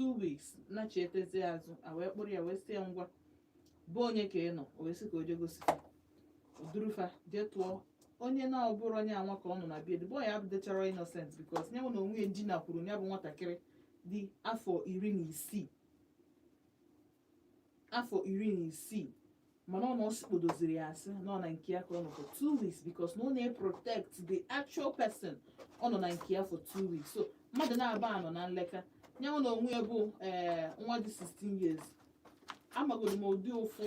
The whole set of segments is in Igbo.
two weeks nachietezi azụ a wee kpụrụ ya wee sị ya ngwa be onye ka ị nọ o wee sị ka o jee gosi fa o duru fa jee tụọ onye na ọ bụrọ onye anwa ka ọ nọ na be ya bụ onye abụdecharọ innocent because ya nwa na onwe ya dinakwuru ya bụ nwatakịrị dị afọ iri na isii afọ iri na isii mana ọ na ọ sikpodoziri ya asị na ọ na nke ya ka ọ nọ for two weeks because na ọ na-protect the actual person ọ nọ na nke ya for two weeks so mmadụ naabọ a nọ na nleka ya nwa na onwe ya bụ ee nwa dị 16 years amagoro m ụdị ụfụ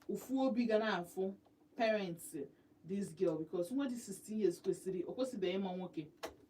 ụfụ obi ga na-afụ parents this girl because nwa dị 16 years kwesịrị o kwesịbeghị ịma nwoke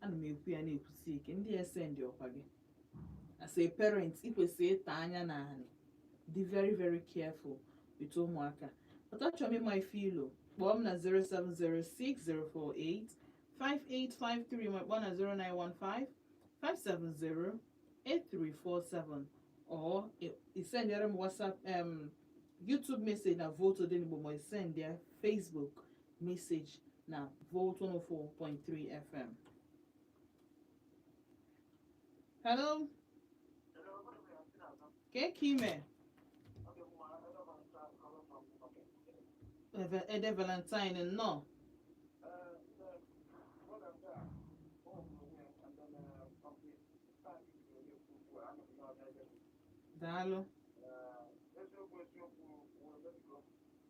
ana m ekwu ya na-ekwusi ike ndị esendị ọkwa gị as a parent ị kwesịrị ịtọ anya na anị dị very very careful with ụmụaka but achọrọ m ịma ife ị lo kpọọ m na 0706048 5853 ma kpọọ na 0915 570 8347 or i sendere m whatsapp um, youtube message na vote odenigbo ma i sendere facebook message na Volt 104.3 FM. Hello? Ke ka ime? Eve- Ede Valentine nnọọ. Daalụ.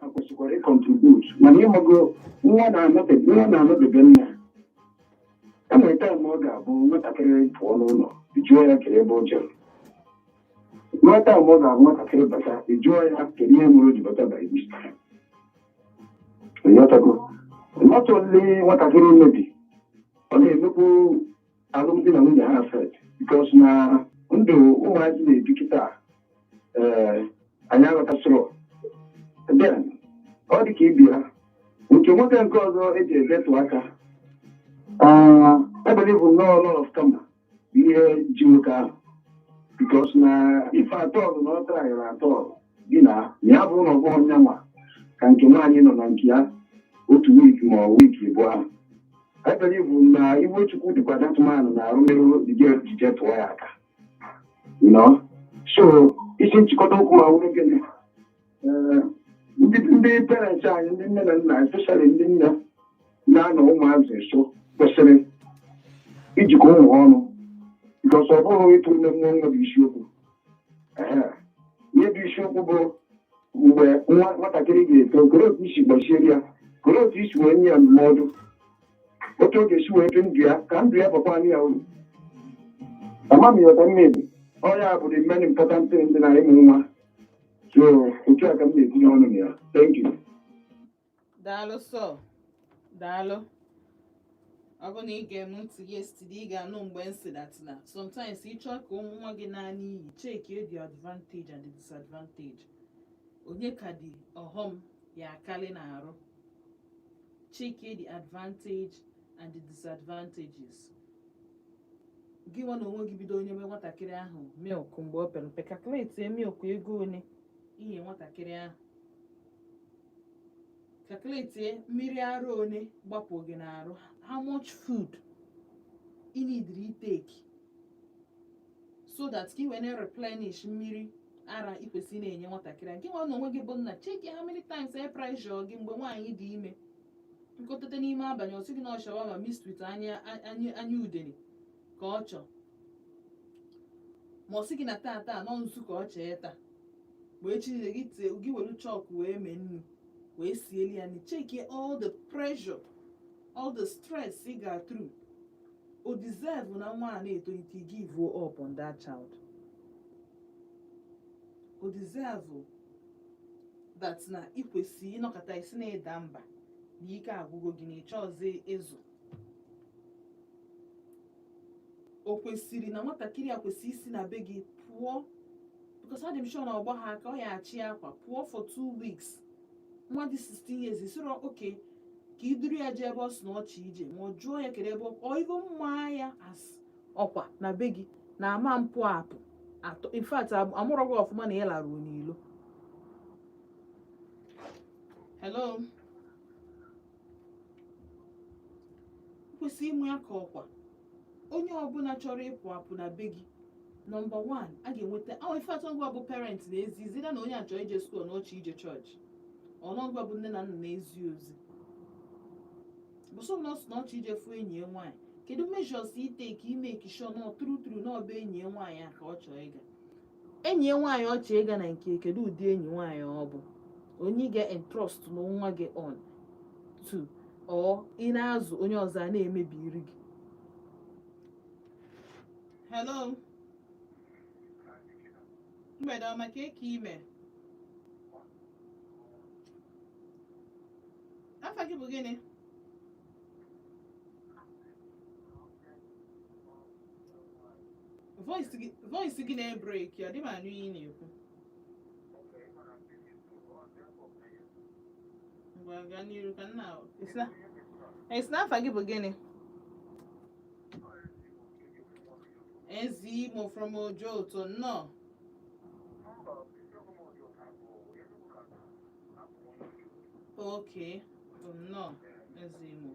ha kwesịkwara ịcontribute mana ị mago nwa na-anọdebe nwa na-anọdebe nna e nwere time ọ ga-abụ nwatakịrị pụọ n'ụlọ jụọ ya kee ebe o jere nwere time ọ ga-abụ nwatakịrị bata jụọ ya kedu ihe mere o ji bata by this time ị ghọtago not only nwatakịrị maybe ọ na-emekwu alụmdi na nwunye ha affect because na ndụ ụmụazị na-ebi kịta ee anyị aghọtasịrọ then ọ dị ka ibi ha nke nwoke nke ọzọ e jere tụọ aka I believe na ọ law of karma ji nwoke ahụ because na if at all na ọ tryrọ at all gị na ya bụ na ọgbọ onye nwa ka nke nwaanyị nọ na nke ya otu wiiki ma ọ wiiki abụọ ahụ I believe na iwe chukwu dịkwa that man na arụmerụ dịje ejije tụọ ya aka nọ so isi nchịkọta okwu m a wụrụ gịnị ndị parents anyị ndị nne na nna especially ndị nne na-anọ ụmụazị nso kwesịrị ijikọ ụmụ ọnụ because ọ bụghị ịtụ ime mụọ nwa bụ isiokwu ihe bụ isiokwu bụ mgbe nwa nwatakịrị ga-eto koro otu i si gbaziere ya koro otu i si wee nye ya ndụmọdụ otu ọ ga-esi wee dị ndụ ya ka ndụ ya bakwanụ ya uru ama m ị ghọta maybe ọ ya bụ the main important thing dị na ịmụ nwa so otu a ka m na-etinye ọnụ na ya thank you daalụ sọ daalụ ọ bụ na ị gee m ntị yesterday ị ga-anụ mgbe m sị that na sometimes ị chọ ka nwa gị naa n'iyi cheki the advantage and the disadvantage onye ka dị ọghọm ya akarị n'arụ cheki the advantage and the disadvantages gị nwa na onwe gị bido nyebe nwatakịrị ahụ milk mgbe ọ pere mpe calculate milk ego ole i nye nwatakịrị ahụ calculate mmiri ara one gbapụ gị n'arụ how much food ị needịrị ịtake so that ka ị wee na-replenish mmiri ara ị kwesịrị na-enye nwatakịrị a gị nwa na onwe gị bụ nna cheki how many times ọ pressure gị mgbe nwaanyị dị ime ịkpọteta n'ime abalị ọ sị gị na ọ shawarma mixed with anya udene ka ọ chọ ma ọ sị gị na taata na ọ nzu ka ọ chọ ịta ma echi niile gị tie gị were chalk wee mee nnu wee sieli ya nni cheki all the pressure all the stress ị ga through o deserve na nwa a na-etolite give up on that child o deserve that na ị kwesịrị ịnọkata sị na ị daa mba na ike agwụgo gị na ị chọzi ịzụ o kwesịrị na nwatakịrị a kwesịrị isi na be gị pụọ because adị m sure na ọ gbahọ aka ọ ya-achị akwa pụọ for two weeks nwa dị 16 years ị sịrọ okay ka i duru ya jee ebe ọ sị na ọ chọ ije ma ọ jụọ ya kere ebe ọ ọ igo mma ya as ọkwa na be gị na ama mpụ apụ atọ in fact am- amụrụ gị ọfụma na ị laruo n'ilo hello kwesị ịme ya ka ọkwa onye ọbụla chọrọ ịpụ apụ na be gị number one a ga-enweta ahụ ife atọ ọ ga-abụ parent na-ezi either na onye a chọ ije school na ọ chọ ije church or na ọ ga-abụ nne na nna na-ezi ozi bụ sọ na ọ sị na ọ chọ ije fụ enyi ya nwaanyị kedu measures ị take ị make sure na ọ true true na ọ be enyi ya nwaanyị a ka ọ chọ ịga enyi ya nwaanyị ọ chọ ịga na nke ya kedu ụdị enyi nwaanyị ọ bụ onye ị ga-entrust nwa gị onto or ị na-azụ onye ọzọ a na-emebiri gị hello mgbede ọma kee ka ị me afa gị bụ gịnị voice gị na-ebreak adị m anụ ihe ị na-ekwu ngwa gaa n'iru ka nna ị sị na afa gị bụ gịnị ezi imo from Ojoto nnọọ Okay, no, as you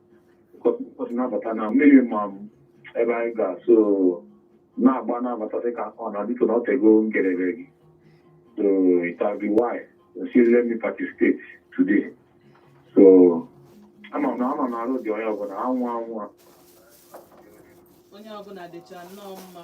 ụbọchị na-abata na mmiri ma m ebe anyị ga so na-agba na-abata dịka ọ na biko na ọ tego ngerere gị so it has been a while she let me participate today so ama m na ama m na arụ dị onye ọbụla anwụ anwụ a onye ọbụla dịcha nnọọ mma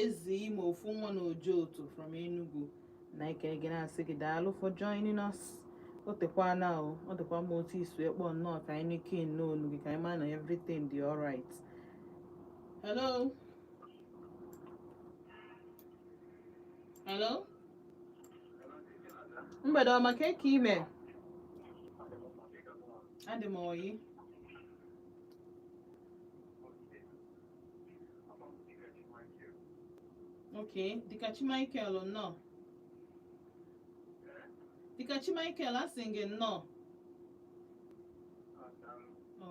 ezi ime ofu nwa na Ojoto from Enugu Nike anyị na-asị gị daalụ for joining us o tekwana o ọ dịkwa mma otu ị si akpọ nnọọ ka anyị nụkenụ olu gị ka anyị ma na everything dị alright hello hello mgbede ọma ka eke ị me adị m ọyị ok Dịkachi Michael nnọọ Dịkachi Michael asị m gị nnọọ Ọ,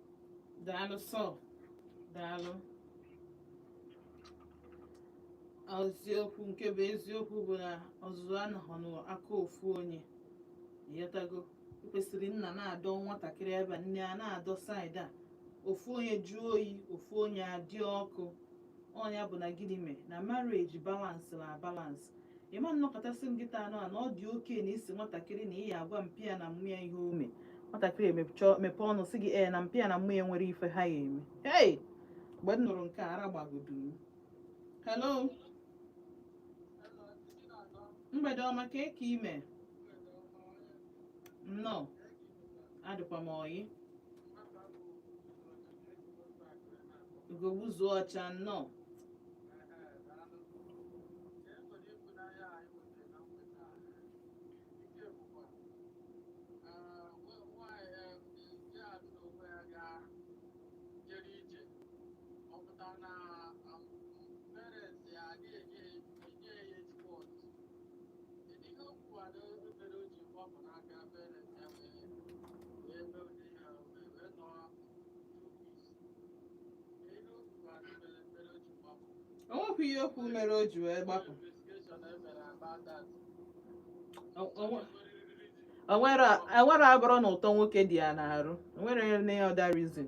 daalụ sọ daalụ eziokwu nke bụ eziokwu bụ na ọzụzụ anọghị n'aka ofu onye ị ghọtago kwesịrị nna na-adọ nwatakịrị ebe a, nne ana-adọ side a ofu onye jụọ oyi ofu onye adị ọkụ ọ nya bụ na gịnị mee na marriage balance na balance ị ma na ọ kọta sị m kịta anọ a na ọ dị oke na isi nwatakịrị na ihe agwa mpịa na mmụọ ya ihe o me nwatakịrị emecha mepee ọnụ sị gị ee na mpịa na mmụọ ya nwere ife ha ya-eme hey mgbe m nụrụ nke a, ara gbagodu m hello mgbede ọma ka eke ị me nnọọ adịkwa m ọyị Ugogbuzuo ọcha nnọọ. o nwekwa ihe okwu mere o ji wee gbapụ O- o nwe- o nwere o nwere abụrọ na ụtọ nwoke dị ya n'arụ o nwere any other reason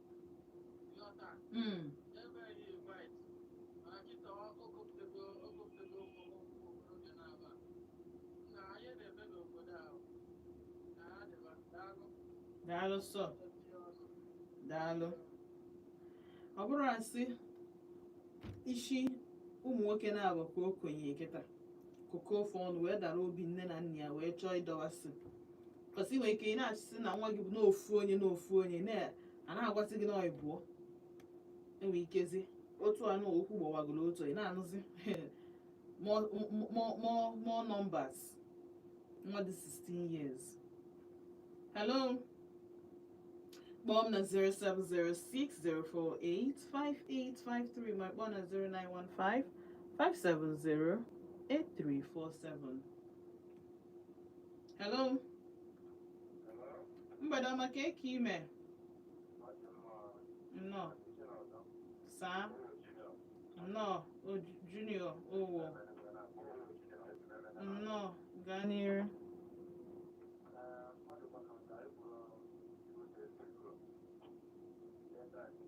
Mm. daalụ sọ daalụ ọ bụrọ asị isi ụmụ nwoke na-agbaka okenye kịta kụkọọ phone wee dara obi nne na nna ya wee chọọ ịdọwasị because ị nwere ike ị na-asị na nwa gị bụ n'ofu onye n'ofu onye na- a na-agwasị gị na ọ ịbụọ ị nwere ikezi otu anụ okwu gbawagoro otu ị na-anụzi more more- more more numbers nwa dị 16 years hello kpọọ m na 07060485853 ma kpọọ na 0915 570 8347 hello mgbede ọma kee ka ị mee nnọọ saa nnọọ o junior owo nnọọ gaa n'iru Thank you.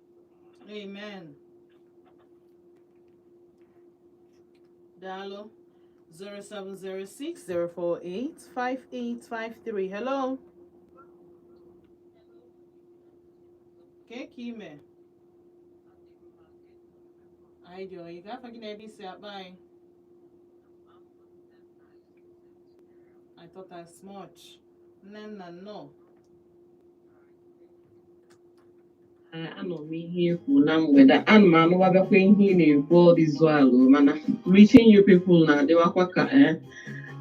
amen daalụ 07060485853 hello kee ka ị mee anyị dị ọyị kee afa gị na ebe i si akpọ anyị I thought as much. Nnenna, no. anụ m ihe i kwuru na mgbede ana m anụwabakwa ihe ị na-ekwu ọdịzụ alụ mana reaching you people na-adịwakwa ka eh,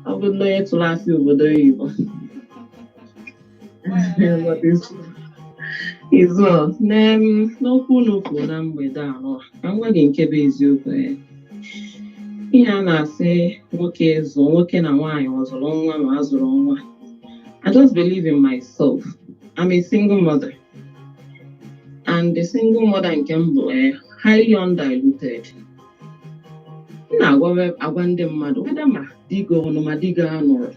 ọ bụ na onye tụrụ asị obodo oyibo izu a, n'em- n'okwu unu kwuru na mgbede ahụ ka m gwa gị nke bụ eziokwu eh. ihe a na-asị nwoke zụọ nwoke na nwaanyị ọ zụrụ nwa ma a zụrụ nwa I just believe in myself. I'm a single mother. and the single mother nke m bụ eh, highly undiluted m na-agwa agwa ndị mmadụ whether ma di gị ọ nọ ma di gị anọrọ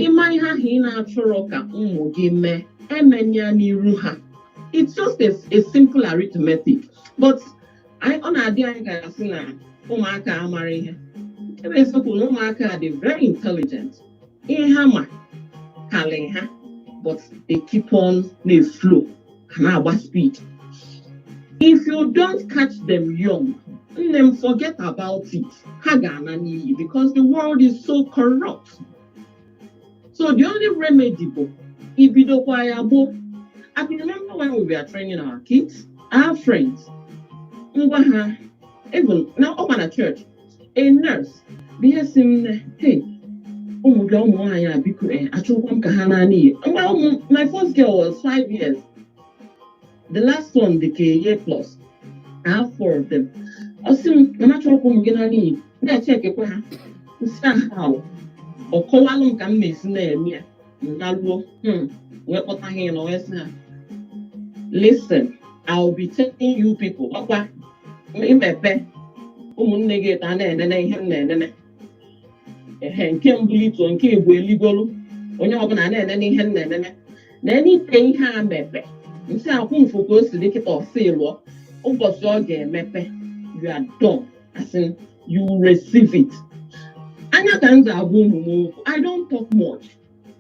ị ma ihe ahụ ị na-achọrọ ka ụmụ gị mee e mee ya n'iru ha it's just a, a simple arithmetic but ọ na-adị anyị ka a sị na ụmụaka amarọ ihe ihe bụ eziokwu na ụmụaka a dị very intelligent ihe ha ma karị ha but they keep on na-eflow ha na-agba speed if you don't catch them young nne m forget about it ha ga-ana n'iyi because the world is so corrupt so the only remedy bụ ibidokwa ya gboo I can remember when we were training our kids our friends mgbe ahụ even na ọ bụ na church a nurse bịa sị m nne hey ụmụ gị a ụmụ nwaanyị a biko eh, achọkwa m ka ha naa n'iyi mgbe ahụ my first girl was five years the last one dị ka a year plus ha four of them ọ sị m na achọrọkwa m ụmụ gị naa n'iyi na-echekekwa ha m sị aha ọ kọwalụ m ka m na-esi na-eme ya m naluo hmm, wee kpọta ha ịnọ wee sị ha listen I will be telling you people ọkwa i mepe ụmụnne gị etọ a na-enene ihe m na-enene ehe nke mbụ ịtọ nke bụ eligolu onye ọbụla na-enene ihe m na-enene na enike ihe a mepe m sị akwụ mfụ ka o si dị kịta ọ sị lụọ ụbọchị ọ ga-emepe you are done as in you receive it anya ka m ji agwa ụmụ m okwu i don't talk much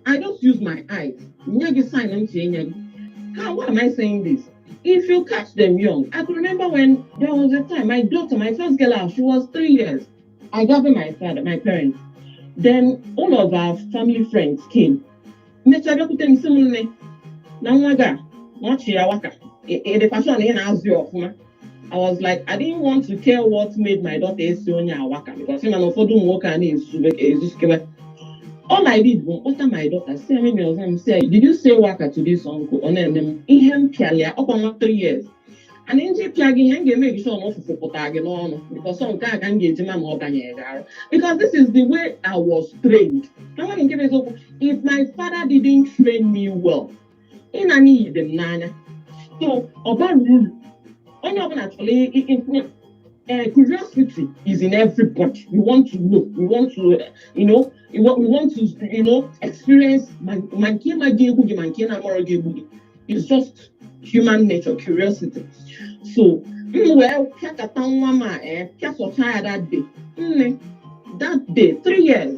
i just use my eyes nye gị sign ntị enye gị how why am i saying this if you catch them young i can remember when there was a time my daughter my first girl out she was three years I gathered my father, my parents. Then one of our family friends came. Mechaa bịakwute m sị m nne na nwa gị a nwa sị ya waka edefashon ị na-azụ ya ọfụma. I was like, I didn't want to care what made my daughter sị onye a waka because ị ma na ụfọdụ ụmụ nwoke a na-ezuzu ezuzukwa. All I did bụ kpọta my daughter sị eme mi ọzọ m sị did you say waka to this uncle? Ọ na-ene m ihe m pịalụ ya ọkwa nwa three years. ana m je pịa gị ihe m ga-eme sure na ụfụfụ pụtara gị n'ọnụ because ọ nke a ka m ga-eji ma ma ọ banyere gị arụ because this is the way I was trained na nwa nke bụ eziokwu if my father didn't train me well ịna n'iyi dị m n'anya so ọ bara uru onye ọbụla chọrọ i- i- i- eh, curiosity is in everybody we want to know we want to eh, you know we want, we want to you know experience ma ma nke ị ma ga-egbu gị ma nke ị na-amarọ ga-egbu gị it's just human nature curiosity so m wee pịakọta nwa m a eh, pịasọcha ya that day nne that day three years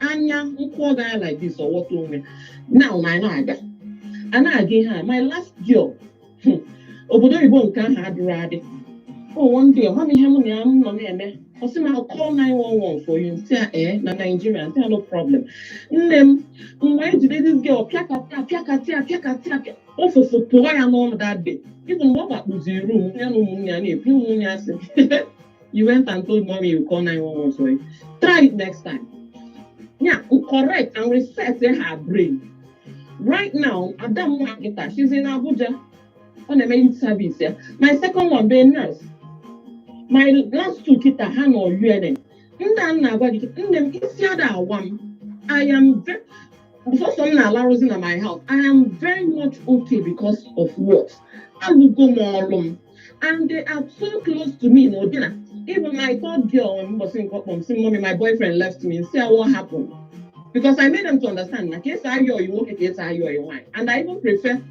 anya nkwụ ọ gaghị like this ọ wọta onwe now na anyị na-aga a na-aga ihe a my last girl hmm, obodo oyibo nke ahụ adịrị adị o oh, one day ọ ma m ihe m na ya nọ na-eme ọ sị m I'll call 911 for you m sị ya ee na Nigeria m sị ya no problem nne m m wee jide this girl pịakata ya pịakata ya pịakata ya pịa ụfụfụ pụta ya n'ọnụ that day ọ bụ mgbe ọ gbakpuziri room ya na ụmụnne ya na-ebi ụmụnne ya sị you went and told mommy you call 911 for you try it next time ya correct and reset her brain right now ada m nwaanyị kịta she's in Abuja ọ na-eme youth service ya my second one bụ nurse my last two kịta ha nọ UNN nna m na-agwa gị nne m isi ada awa m I am very sọsọ m na-alarụzi na my house I am very much okay because of what alụgo m ọrụ m and they are so close to me n'ụdị na even my third girl mbọsị nke ọ kpọ m sị mommy my boyfriend left me m sị ya wa hapụ m because I made them to understand na ka esi ayị ọyị nwoke ka esi ayị ọyị nwaanyị and I even prefer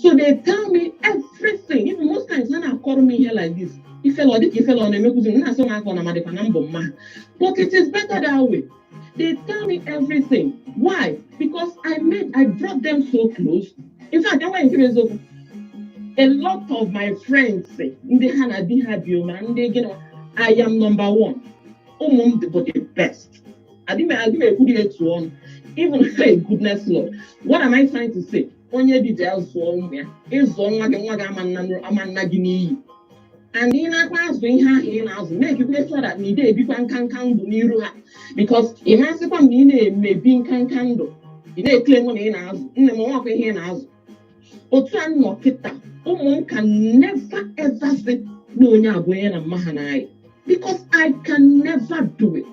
so they tell me everything even most times ha na-akọrọ m ihe like this ifele ọ dịka ifele ọ na-emekwuzi m na-asọ m aka ọ na amadịkwa na m bụ mma ha but it is better that way they tell me everything why because i made i brought them so close in fact enweghị nkiri eziokwu a lot of my friends ndị ha na di ha bi ma ndị gị na i am number one ụmụ m bụ the best adị m ekwuri etu ọnụ even hey goodness lord what am i trying to say onye dị bịa zụọ ụmụ ya ị zụọ nwa gị nwa gị ama naa gị n'iyi and ị nakwa azụ ihe ahụ ị na-azụ na-emekwa sure na ị dị ebikwa nkanka ndụ n'iru ha because ị ma asịkwa na ị na-emebi nkanka ndụ ị na-ekele nwe na ị na-azụ nne m nwakwa ihe ị na-azụ otu a nọ kịta ụmụ m can never ever sị na onye a bụ onye na mma ha na-ayị because I can never do it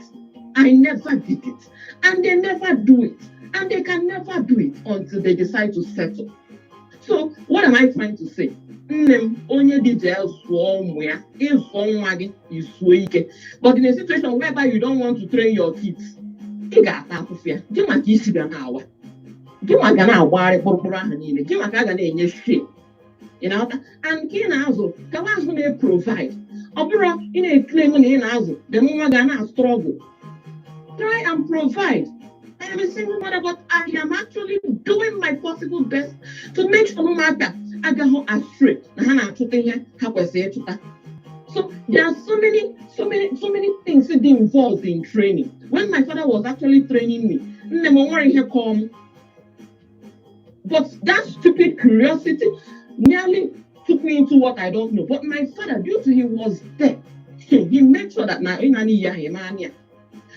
I never did it and they never do it and they can never do it until they decide to settle so what am i trying to say nne m onye dị jee zụọ ụmụ ya ị zụọ nwa gị i zuo ike but in a situation whereby you don't want to train your kids ị ga-ata afụfụ ya gịnwa ka isi ga na-awa gịnwa ka a na-agbagharị kpụrụkpụrụ ahụ niile gịnwa ka a ga na-enye shame ị na-aghọta and ka ị na-azụ gawa azụ na-eprovide ọ bụrụ ị na-eclaim na ị na-azụ dị nwa ga na-astruggle try and provide I am a single mother, but I am actually doing my possible best to make sure na ụmụaka agaghị astray na ha na-achụta ihe ha kwesịrị ịchụta so there are so many so many so many things dị involved in training when my father was actually training me nne m nwere ihe kọọ m But that stupid curiosity nearly took me into what I don't know. But my father, due to he was there, he made sure that na inani ya himania.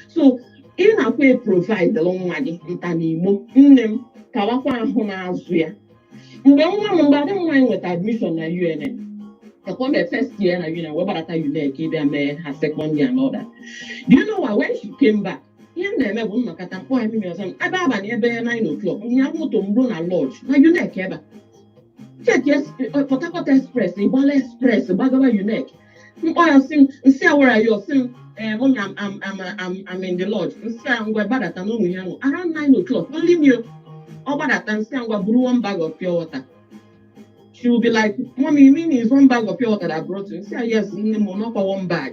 So ị nakwa eprovide nwa gị nta n'igbo nne m kawakwa ahụ n'azụ ya mgbe nwa m mgbe ada m nwaanyị nweta admission na UNN kakwa my first year na UNN wee gbarata UNN ka ịbịa mee her second year and all that. Do you know what? When she came back, ihe m na-eme bụ m nọkata m kpọọ ya mmiri ọzọ m ebe abalị ebe 9 o'clock ihe moto m ruo na lodge na UNEC ebe a cheki Port Harcourt express ịgbala express gbagawa UNEC m kpọọ ya sị m m sị ya where are you ọ sị m ee mụ na I'm I'm I'm I'm in the lodge m sị ya ngwa gbadata n'ụmụ ihe ahụ around 9 o'clock only me ọ gbadata m sị ya ngwa buru one bag of pure water she will be like mommy mean is one bag of pure water that I brought you m sị ya yes nne m n'ọkwa one bag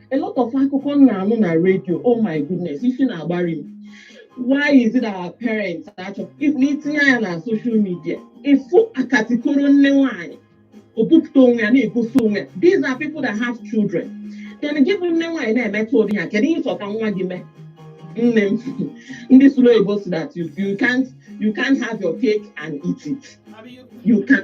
a lot of akụkọ m na-anụ na redio oh my goodness isi na-agbari m why is it our parents achọ itinye anya na social media ị fụ akatikoro nne nwanyị o bupụta onwe ya na-egosi onwe ya these are people that have children then gị bụ nne nwaanyị na-emetụ ụdị ya kedu ihe ị chọ ka nwa gị mee nne m ndị sụrụ oyibo sị that you, you can't you can't have your cake and eat it you can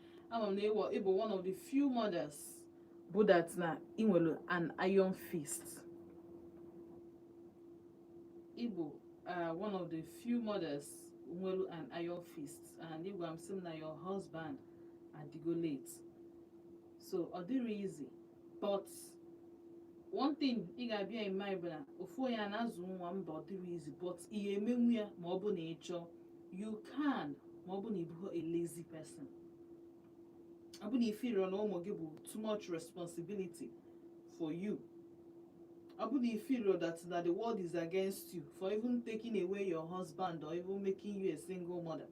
ama m na ị wụ ị bụ one of the few mothers bụ that na ị nwere an iron fist ị bụ uh, one of the few mothers nwere an iron fist and ị gwa m sị m na your husband adịgo late so ọ dịrọ easy but one thing ị ga-abear in mind bụ na ofu onye a na-azụ nwa mba ọ dịrọ easy but ị ga-emenwu ya ma ọ bụ na ị chọọ you can ma ọ bụ na ị bụrọ a lazy person ọ bụ na ị feelrọ na ụmụ gị bụ too much responsibility for you ọ bụ na ị feelrọ that na the world is against you for even taking away your husband or even making you a single mother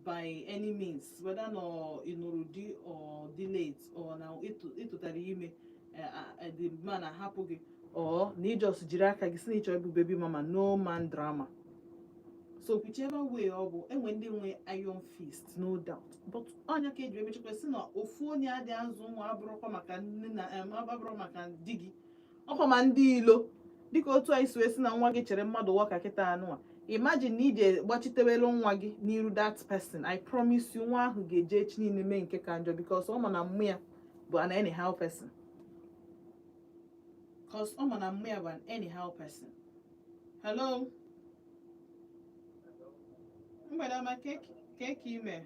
by any means whether na ọ ị nụrụ di ọ dị late or na ị tụ- ị tụtara ime eh, ah, eh, the man ahapụ gị or na ị just jiri aka gị sị na ị chọ ịbụ baby mama no man drama so whichever way ọ bụ e nwere ndị nwe iron fist no doubt but ọ nya ka e ji emechakwa sị na ofu onye adị azụ nwa abụrụkwa maka nne na em, abụrụ maka di gị ọkwa ma ndị ilo dịka otu anyị si asị na nwa gị cheere mmadụ waka kịta nụwa imagine na i je gbachitewelu nwa gị n'iru that person i promise you nwa ahụ ga-eje echi niile mee nke ka njọ because ọ ma na mum ya bụ an anyhow person because ọ ma na mum ya bụ an anyhow person hello mgbede ọma kee ka i me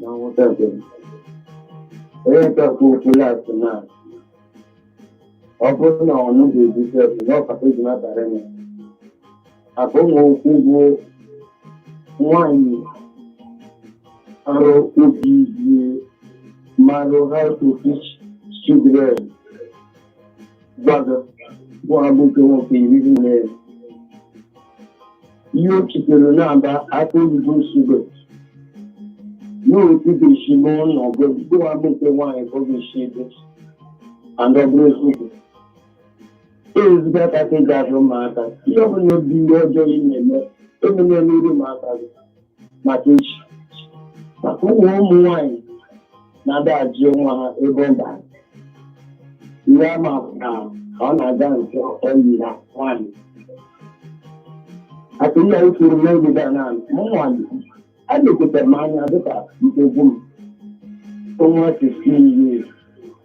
na nghọta nke m onye nke kwuru okwu last na ọ bụrụ na ọnụ ga-ebu sef na ọkata ji na-abara ya abụ m okwu bụ nwanyị arụ obi ihe marụ how to teach children gbado bụ abụ nke nwoke iri nne ihe o chitere na-aba aka oyibo nsogbe n'otu ga-esi mee ọnọdụ bụ abụ nke nwaanyị ka ọ ga-esi ebi and ọ bụ eziokwu ezigbo aka ka eji azụ ụmụaka ihe ọbụla bụ ihe ọjọọ ị na-eme emena n'iru ụmụaka gị maka echi maka ụmụ ụmụ nwaanyị na-ada ajụ nwa ha ebe ọ bara ihe ama na ọ na-aga nke ọyi na nwaanyị aka ihe anyị kwuru n'oge gara na ụmụ nwaanyị a na-ekwetara m anya dịka nke egwu m onwa 15 years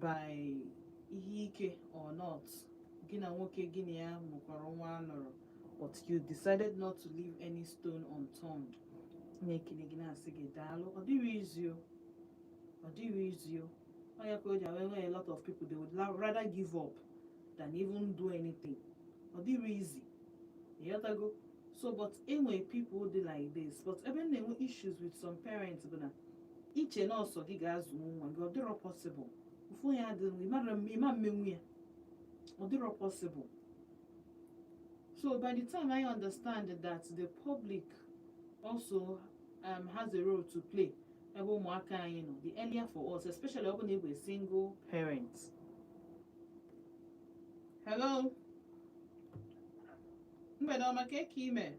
by ihe ike or not gị na nwoke gị na ya mụkọrọ nwa anọrọ but you decided not to leave any stone unturned na-ekele gị na-asị gị daalụ ọ dịrọ easy o. ọ dịrọ easy o. onye ka o ji awa e nwe a lot of people they would la- rather give up than even do anything ọ dịrọ easy ị ghọtago so but e nwe people dị like this but ebe m na-enwe issues with some parents bụ na i che na ọ sọ gị ga-azụ nwa gị ọ dịrọ possible ụfụ ya adịrọ ị ma m- ị ma emenwu ya ọ dịrọ possible so by the time ị understand that the public also um, has a role to play ebe ụmụaka anyị nọ the earlier for us especially ọ bụ na ị bụ a single parent hello mgbede ọma kee ka i me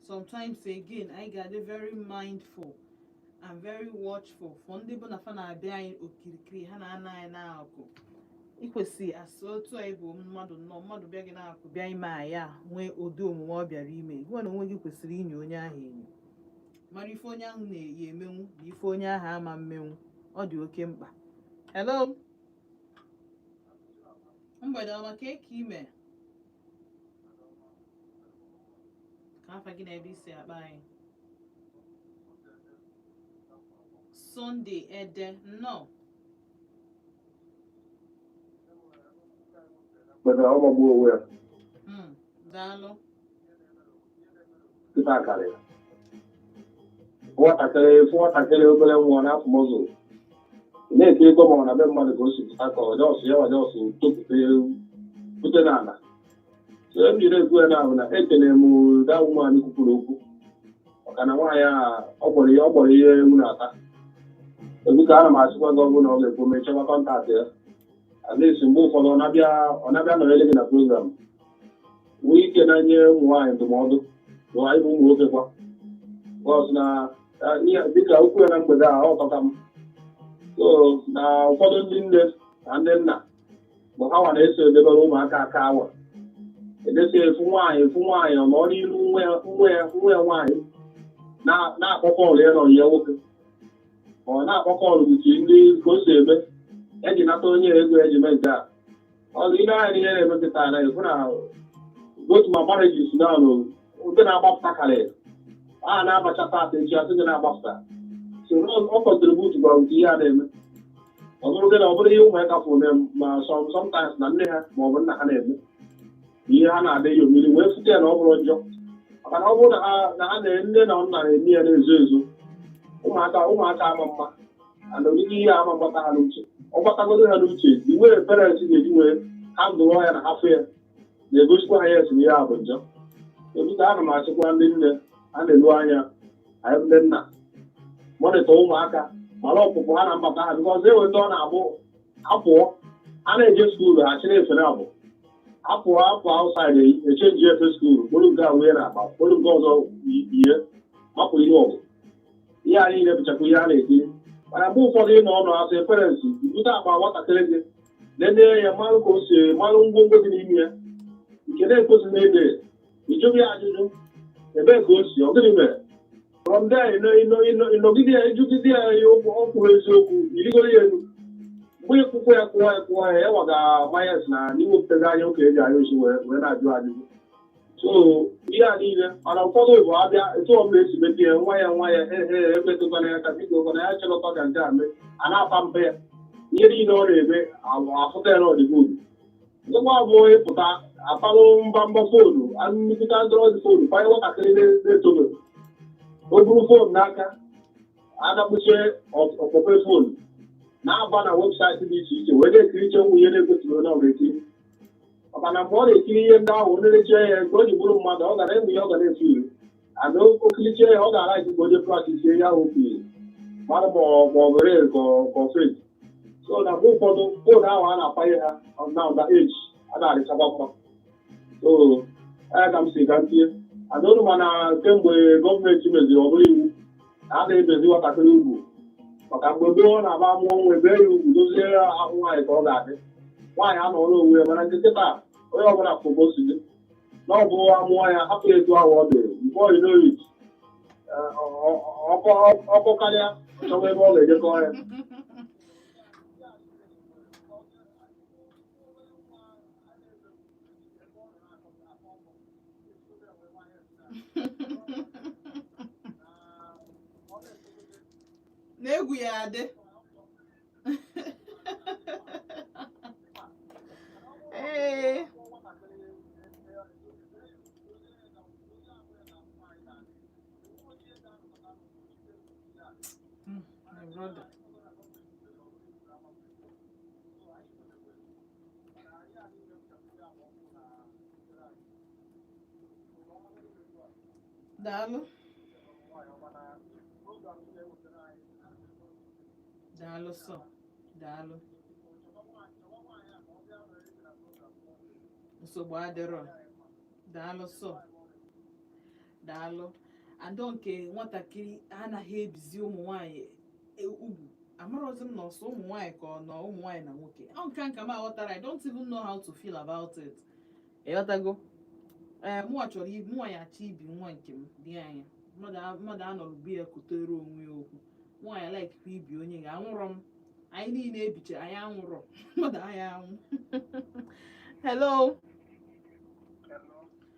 sometimes again anyị ga-adị very mindful and very watchful for ndị bụ na fa na-abịa anyị okirikiri ha na-anọ anyị n'akụ i kwesị asị otu anyị bụ mmadụ nnọọ mmadụ bịa gị n'akụ bịa ime anyị a nwee ụdị omume ọ bịara ime gịwa n'onwe gị kwesịrị inyo onye ahụ enyo mara ife onye ahụ na-eje emenwu na ife onye ahụ ama emenwu ọ dị oke mkpa hello mgbede ọma kee ka i me afa gị na ebe i si akpọ anyị sunday ede nnọọ hmm, daalụ ife akara ya nwatakịrị ị fụ nwatakịrị obere nwa na afụmụzụ na-eti ego ma ọ na be mmadụ ka o si pụta ka ọ just ya ọ just topụta ewu bute n'ala so e jiri ekwu ya na ahụ na ekelere m daa nwaanyị kwupụrụ okwu maka na nwaanyị a ọ gbọrọ ihe ọ gbọrọ ihe ewu na-ata egwu ka ana m asịkwa ihe ọbụla ọ ga-ekwu mee chọba contact ya at least mgbe ụfọdụ ọ na-abịa ọ na-abịa nọrọ ele gị na program nwee ike na-enye ụmụ nwaanyị ndụmọdụ na even ụmụ nwoke kwa cos na dịka okwu ya na mgbede a ọ tọka m so na ụfọdụ ndị nne na ndị nna bụ ha nwa na-eso edebere ụmụaka aka awa edesi ị fụ nwaanyị ị fụ nwaanyị ọ nọrọ n'iru nwa ya nwa ya nwa ya nwaanyị na- na-akpọ call ya na ọyị ya nwoke ọ na-akpọ call uche ndị ka o si eme eji nata onye ego eji mee nke a ọzọ i lee anya n'ihe na-emepụta na ị fụ na otu ma marriages n'alụ ndị na-agbapụta karị a na-abacha taata echi asị gị na-agbapụta so ọ contribute kwara nke ihe a na-eme ọ bụrụ gị na ọ bụrụ ihe ụmụaka fụ na ma sometimes na nne ha ma ọ bụ nna ha na-eme ihe ha na-adị ya omiri wee fụta ya na ọ bụrọ njọ maka na ọ bụrụ na ha na nne na nna na-eme ya na-ezo ezo ụmụaka ụmụaka ama ama ana onyinye ihe ama gbata ha n'uche ọ gbatagodo ha n'uche the way parents ga-eji wee handle ya na ha fụ ya na-egosikwa ha ya asị na ihe a bụ njọ but ana m asịkwa ndị nne ha na-eleru anya anyị ndị nna monitor ụmụaka mara ọpụpụ ha na mbata ha nke ọzọ eweta ọ na-abụ apụọ a na-eje school ha chịrị efe na abụ apụọ apụ outside e change efe school kpụrụ nke a wee na akpa kpụrụ nke ọzọ yi- yie mapụ ihe ọgụ ihe a niile bụchakwa ihe a na-ekiri mana mgbe ụfọdụ ị nọ ọnụ as a parents bute akpa nwatakịrị gị lelee ya malụ ka o si malụ ngwongwo dị n'ime ya nke na-ekwesị na ede ị jụọ ya ajụjụ ebee ka o si ọ gịnị mere from there ị nọgide ya ị jụgide ya ihe okwu ọ kwuru eziokwu i rigoro ya elu mgbe ịkwụkwọ ya kụwa ya kụwa ya ya waga mayas na n'iwepụtaghị anya okenye ji anya osi wee na-ajụ ajụjụ so ihe a niile mana ụfọdụ bụ abịa etu ọbụla esi mebie ya nwa ya nwa ya ehe emetụkwana ya aka biko kwana ya chọrọkọ ka nke a mee a na-apamper ya ihe niile ọ na-eme abụ afụta ya na ọ dị good ndịkwa bụ ị pụta apalụ mba mba phone nnukwu android phone kwanye nwatakịrị na- na-etobe o buru phone n'aka adakpuchie ọ kpọpe phone na-aba na website dị iche iche wee na-ekiricha ụmụ ihe na-ekwesịrọ ihe ọ ga-ekiri maka na mgbe ọ na-ekiri ihe ndị ahụ nlerecha ya nke o ji bụrụ mmadụ ọ gara ịmụ ihe ọ ga na-efu iri ana o kilicha ya ọ ga-ara ji ka onye practise ihe ahụ o kiri mara ma ọ ma ọ real ka ọ- ka ọ fake so na mgbe ụfọdụ phone ahụ a na-akpanye ha na ụda eji a na-arịchakwa mma so ya ka m si ka m tinye ana olu mana kemgbe gọọmenti meziri ọ bụrụ iwu na a na-ebezi nwatakịrị ugwu maka mgbe gboo na ọ bụ a mụọ nwa e bee ya ugwu dozie ahụ nwaanyị ka ọ ga-adị nwaanyị anọrọ onwe ya mana nke kịta onye ọbụla fobo si dị na ọ bụ a mụọ ya hapụ ya etu ahụ ọ dị mgbe oyi n'oyi ọkọ karịa chọwa ebe ọ ga-edekọ ya na egwu ya adị ee Mm, my brother. daalụ daalụ sọ daalụ nsogbu adịrọ daalụ sọ daalụ and nke nwatakịrị anaghị ebizi ụmụ nwaanyị e- ugwu amarọzi m na ọ sọ ụmụ nwaanyị ka ọ ụmụ nwaanyị na nwoke ọ nke a ka m aghọtara i don't even know how to feel about it ịghọtago ee mụnwa chọrọ ibi mụnwa ya achọ ibi nwa nke m dị anya mmadụ a- mmadụ anọrọ be ya kutere onwe ya okwu nwa ya likekwa ibi onye ga anwụrọ m anyị niile e bicha anyị anwụrọ mmadụ anaghị anwụ hello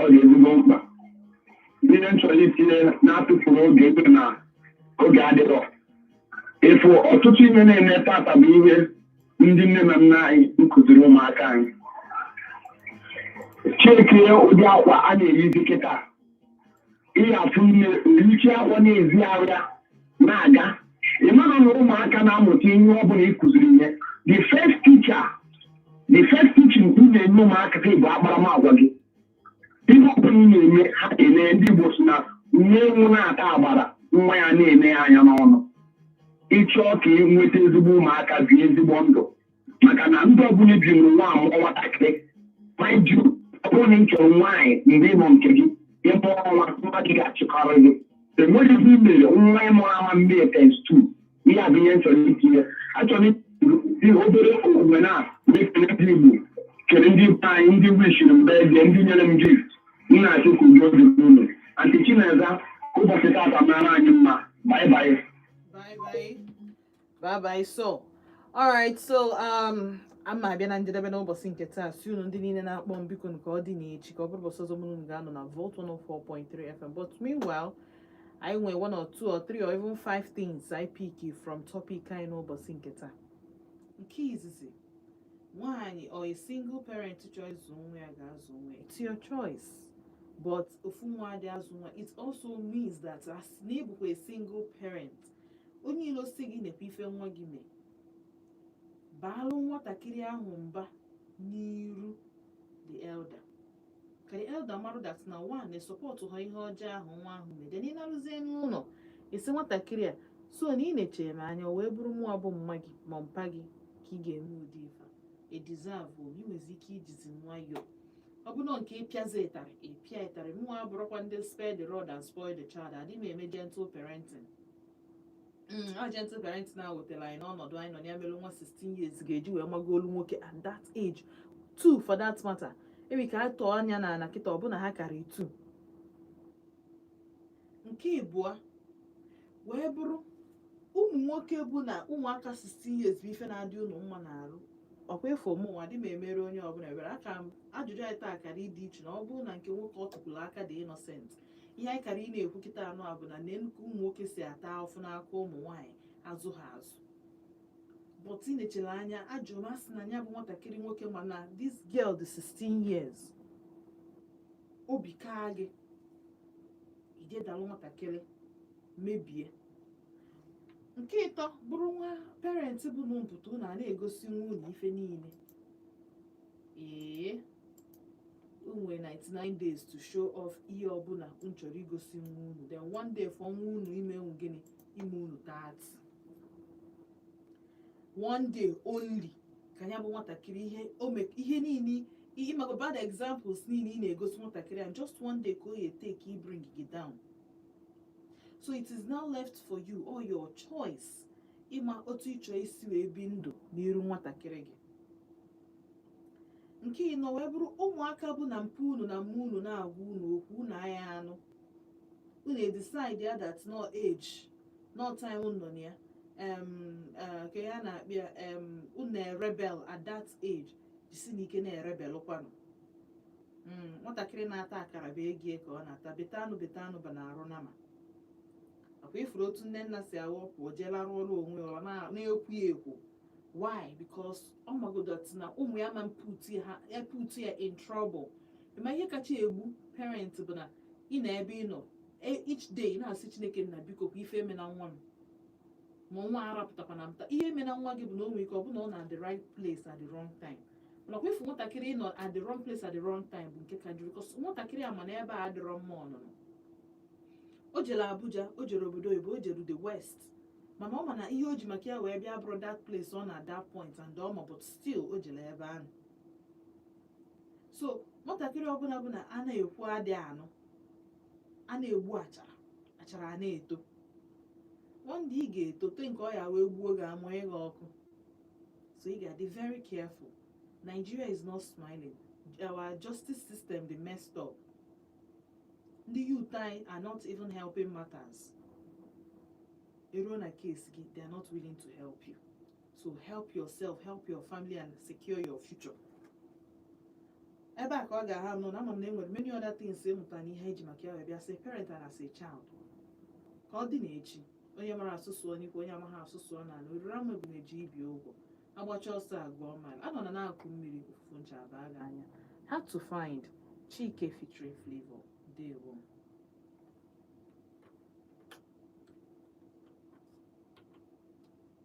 ọ dị ezigbo mkpa ihe m chọrọ itinye na-atụfurọ oge ebe na oge adịrọ ị fụ ọtụtụ ihe na-eme taata bụ ihe ndị nne na nna anyị kụziri ụmụaka anyị checkie ụdị akwa a na-eyizi kịta ị ya-afụ nne yicha akwa na-ezi arụ ya na-aga ị mara na ụmụaka na-amụta ihe ọ bụla ị kụziri ihe the first teacher the first teaching ị na-enye ụmụaka gị bụ akparamagwa gị ihe ọ bụla ị na-eme ha ele ndị Igbo si na nne ewu na-ata agbara nwa ya na-ene ya anya n'ọnụ ị chọọ ka ị nweta ezigbo ụmụaka bie ezigbo ndụ maka na ndị ọbụla bi n'ụwa amụọ nwatakịrị mind you ọ bụrụ na ị chọrọ nwaanyị mgbe ịmụ nke gị ịmụ ọnwa nwa gị ga-achịkọrọ gị enweghị ihe imere nwa ịmụrụ ama mmiri tens tu ihe a bụ ihe nchọrọ itinye achọrọ ihe obere omume na ekele ndị igbo kere ndị be anyị ndị wishiri m birthday ndị nyere m gift m na-asị ka udo dị n'ụlọ anti chineza ụbọchị tata mara anyị mma bye bye Bye bye. bye bye so all right so um a ma abịa na njedebe n'ụbọchị nke taa sị unu ndị niile na-akpọ m bikonụ ka ọ dị n'echi ka ọ bụrụ ụbọchị ọzọ mụ ga-anọ na Volt 104.3 FM but meanwhile anyị nwee one or two or three or even five things I pick from topic anyị n'ụbọchị nke taa nke izizi nwaanyị or a single parent chọọ ịzụ nwa ya gaa zụ nwa ya it's your choice but ofu onye adị azụ nwa it also means that as na a single parent onye ilo sị gị nekwa ife nwa gị mee baalụ nwatakịrị ahụ mba n'iru the elder ka the elder marụ that na mụnwa esupportụhọ ihe ọjọọ ahụ nwa ahụ mee then ị narụzie n'ụlọ ị sị nwatakịrị a so na ị nechara m anya wee bụrụ mụwa bụ mma gị ma mpa gị ka ị ga-eme ụdị ife a edizavụ ị nwezi ike ijizi nwayọọ ọ bụrụ nke ịpịazi ịtarị ịpịa ịtarị mụnwa abụrọkwa ndị spare the rod and spoil the child adị m eme gentle parenting Mm, a gentle parenting a wetara anyị n'ọnọdụ anyị nọ ya mere nwa 16 years ga-eji wee mago olu nwoke at that age two for that matter enwe ike a tọọ anya na ala kịta ọ bụ na ha karịrị two nke ịbụọ wee bụrụ ụmụ nwoke bụ na ụmụaka 16 years bụ ife na-adị unu mma n'arụ ọ kwa ị fụ mụnwa adị m emere onye ọbụla ebere aka m ajụjụ anyị taa kara ịdị iche na ọ bụrụ na nke nwoke ọ tụkwụrụ aka dị innocent ihe anyị kara ị na-ekwu kịta anụ a bụ na nne nnukwu ụmụ nwoke si ata afụfụ n'aka ụmụ nwaanyị azụ ha azụ but ị nechara anya ajụrụ m asị na ya bụ nwatakịrị nwoke mana this girl dị 16 years obi kaa gị ijidelu nwatakịrị mebie nke ịtọ bụrụ nwa parent bụ na mpụta unu a na-egosi nwa unu ife niile ee o nwere 99 days to show off ihe ọbụla unu chọrọ igosi nwa unu then one day for nwa unu ime unu gịnị ime unu dirty one day only ka ya bụ nwatakịrị ihe o me ihe niile ihe maka bad examples niile ị na-egosi nwatakịrị ahụ just one day ka ọ ya-etake ibring gị down so it is now left for you or your choice ịma otu ị chọ isi wee bi ndụ n'iru nwatakịrị gị nke ịnọ wee bụrụ ụmụaka bụ na mpa unu na mma unu na-agwa unu okwu unu anaghị anụ unu decide ya that na age na time unu nọ na ya em, eh, ka ya na-akpịa em, unu erebel at that age jisinụ ike na-erebel kwanụ Mm, nwatakịrị na-ata akara bụ ego ya ka ọ na-ata beta anụ beta anụ bụ n'arụ nama ọkwa ị fụrụ otu nne nna si awụpụ jee larụ ọrụ onwe ya ọ na- na-ekwu ya ekwu why because ọ magodo na ụmụ ya ma mputu ha eputu ya in trouble ma ihe kacha egbu parent bụ na ị nọ ebe ị nọ e- each day ị na-asị chineke nna biko kwa ife emena nwa m ma nwa arapụtakwana mta ihe emena nwa gị bụ na o nwere ike ọ bụ na ọ nọ at the right place at the wrong time nakwa ifu nwatakịrị ịnọ at the wrong place at the wrong time bụ nke ka njọ cos nwatakịrị a ma na ebe a adịrọ mma ọnụnọ o jere abuja o jere obodo oyibo o jere the west mana ọ ma na ihe o ji maka ya wee bịa abụrọ that place ọ nọ at that point and ọ ma but still o jere ebe ahụ so nwatakịrị ọbụla bụ na a na-ekwu adị anụ a na-egbu achara achara ana-eto one day ị ga-etote nke ọ ya wee gbuo gị amụnye gị ọkụ so ị ga-adị very careful Nigeria is not smiling our justice system dị messed up ndị youth anyị are not even helping matters eruo na case gị they are not willing to help you to help yourself help your family and secure your future ebe a ka ọ ga-aha nọ na ama m na enwere many other things ị mụtara na ihe e ji maka ya wee bịa as a parent and as a child ka ọ dị na echi onye mara asụ sụọ n'ikwe onye amaghị asụ sụọ n'anị o riri amụ ebunu ji ibi ụgwọ agbacha ọsọ agụọ mile anọna n'akụkụ mmiri ụfụfụ ncha abaa gị anya hard to find chike featuring flavour ndewo